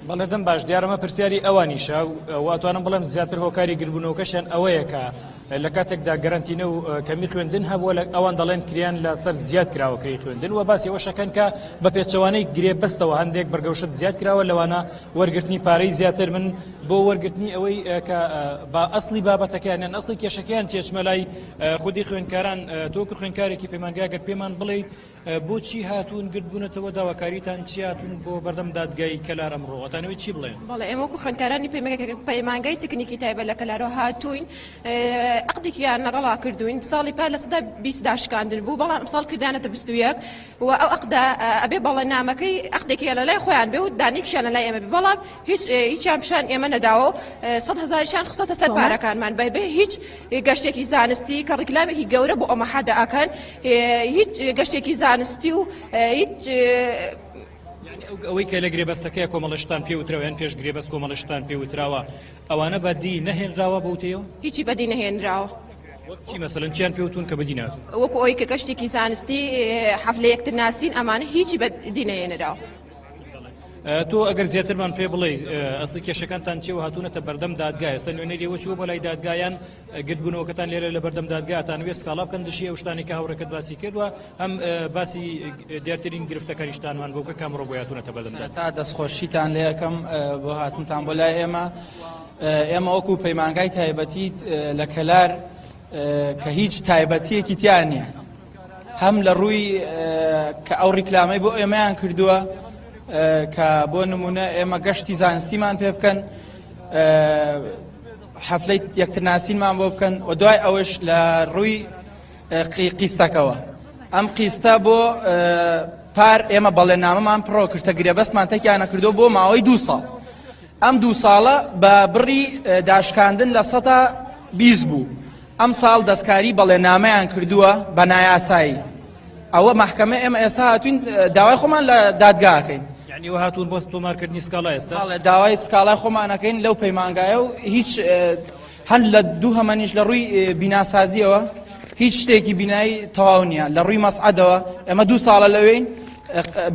بەڵێ دەم باش دیارمە پرسیاری ئەوانیشە واتوانم بڵێم زیاتر هۆکاری گربوونەوەکەشیان ئەوەیە کە لە کاتێکدا گەرنتینە و کەمی خوێندن هەبووە لە ئەوان دەڵێن کریان لە سەر زیاد کراوە کری خوێندن و باسی ئەوشەکەن کە بە پێچەوانەی گرێ بەستەوە هەندێک بەرگەوشت زیاد کراوە لەوانە وەرگرتنی پارەی زیاتر من بۆ وەرگرتنی ئەوەی کە با ئەسلی بابەتەکەیان یان ئەسلی کێشەکەیان چێچمەلای خودی خوێندکاران تۆکە خوێندکارێکی پەیمانگاگەر پێمان بڵێ بۆچی هاتوون گرد بوونەتەوە داواکاریتان چیە هاتوون بۆ بەردەم دادگای کەلار ئەمڕۆ ئەتانەوێت چی بڵێن؟ بەڵێ ئێمە وەکو خوێندکارانی پەیمانگای تکنیکی تایبەت لە کەلارەوە هاتووین ئەقدێکیان لەگەڵا کردووین ساڵی پار لە سەدا بیست داشکاندن بوو بەڵام ئەمساڵ کردانەتە بیست و یەک و ئەو ئەقدە ئەبێ بەڵێنامەکەی ئەقدێکیان لەلای خۆیان بێ و دانەیەکشیان لەلای ئێمە بێ بەڵام هیچ هیچیان پیشان ئێمە نەداوەو سەد هەزاریشان خستۆتە سەر پارەکانمان بە بێ هیچ گەشتێکی زانستی کە ڕیکلامێکی گەورە بۆ ئەمە حەدە ئەکەن هیچ گەشتێکی زانستی و هیچ ئەوەی کە لە گرێبەستەکەی کۆمەڵشتان پێ وترەوەیان پێش گرێبەست کۆمەڵشتان پێ وتراوە ئەوانە بەدی نەهێنراوە بوتەوە هیچی بەدی نەهێنراوە. چی مەسەن چیان پێوتون کە بدینا وەکو ئەوی کە گەشتێکی زانستی حەف لە یەکتر ناسین ئەمانە هیچی بە دینەیەنراوە. تۆ ئەگەر زیاترمان پێ بڵێ ئەستی کێشەکانتان چێ و هاتوونەتە بەردەم دادگای ئێستا نوێنەری وەچوو بۆ لای دادگایان گردبوونەوەکەتان لێرە لە بەردەم دادگاتان وێ سکاڵا بکەن دژی ئەو شتانی کە هاوڕێکەت باسی کردووە هەم باسی دیارترین گرفتەکانیشتانمان بۆ کە کامڕۆ بۆ هاتوونەتە بەردەم تا دەستخۆشیتان لێ یەکەم بۆ هاتنتان بۆ لای ئێمە ئێمە وەکو پەیمانگای تایبەتی لە کەلار کە هیچ تایبەتیەکی تیا نییە هەم لە ڕووی کە ئەو ڕیکلامەی بۆ ئێمەیان کردووە کە بۆ نمونە ئێمە گەشتی زانستیمان پێ بکەن حەفلەی یەکترناسینمان بۆ بکەن و دوای ئەوش لە ڕووی قیستەکەەوە ئەم قیستە بۆ پار ئێمە بەڵێ نامەمان پڕۆ کرتە گرێبەستمان تەکیانە کردو بۆ ماوەی دو ساڵ ئەم دوو ساڵە بە بڕی داشکاندن لە سەدا بیست بوو ئەمساڵ دەستکاری بەڵێنامەیان کردووە بە نایاسایی ئەوە محکمە ئێمە ئێستا هاتوین داوای خۆمان لە دادگاکەین یعنی هاتون بۆ تۆمارکردنی سکاڵا ئێستا داوای سکاڵای خۆمانەکەین لەو پەیمانگایە و هیچ هەر لە دووهەمەنیش لە ڕووی بیناسازیەوە هیچ شتێکی بینایی تەواو نییە لە ڕووی مەسعدەوە ئەمە دوو ساڵە لەوەین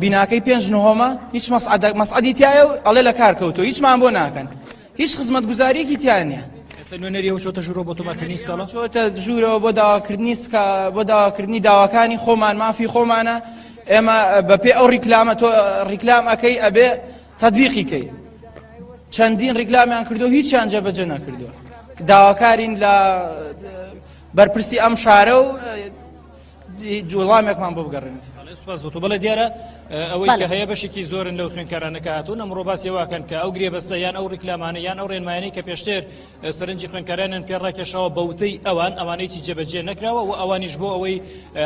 بیناکەی پێنج نهۆمە هیچ مەسعدە مەسعدی تایە و ئەڵێ لە کار کەوتۆ هیچمان بۆ ناکەن هیچ خزمەت گوزاریەکی تیان نیە ئێستا نوێنەریەوە چۆتە ژوورەوە بۆ تۆمارکردنی سکاڵا چۆتە ژوورەوە بۆ داواکردنی سکا بۆ داواکردنی داواکانی خۆمان مافی خۆمانە ئێمە بەپێ ئەو ڕیکلامە تۆ ڕیکلام ئەەکەی ئەبێ تەتبیقی کەی چەندین ڕیکلامیان کردو هیچیان جێبەجێ نەکردووە داواکارین لە بەرپرسی ئەم شارە و جوڵامێکمان بۆ بگەڕێنێت سپاس بۆ بڵێ دیارە ئەوەی کە هەیە بەشێکی زۆرن لەو خوێنکارانەکە هاتوون ئەمڕۆ باسی واکەن کە ئەو گرێبەستە یان ئەو ریکلامانە یان ئەو ڕێنمایانی کە پێشتر سەرنجی خوێنکارانیان پێ ڕاکێشاوە بە وتەی ئەوان ئەوانەیەکی جێبەجێ نەکراوە و ئەوانیش بۆ ئەوەی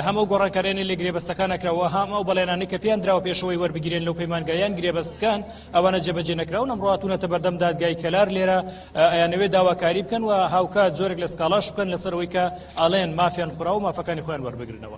هەمەو گۆڕانکارانی لە گرێبەستەکان نەکراوە هەم ئەو بەڵێنانی کە پێیان دراوە پێشەوەی وەربگیرێن لەو پەیمانگایان گرێبەستکان ئەوانە جێبەجێ نەکراون ئەم ڕاتونەتە بەردەم دادگای کەلار لێرە ئەیانەوێ داواکاری بکەن و هاوکات جۆرێک لە سکاڵاش بکەن لەسەرەوەی کە ئەڵێن مافیان خورا و مافەکانی خۆیان وەربگرنەوە.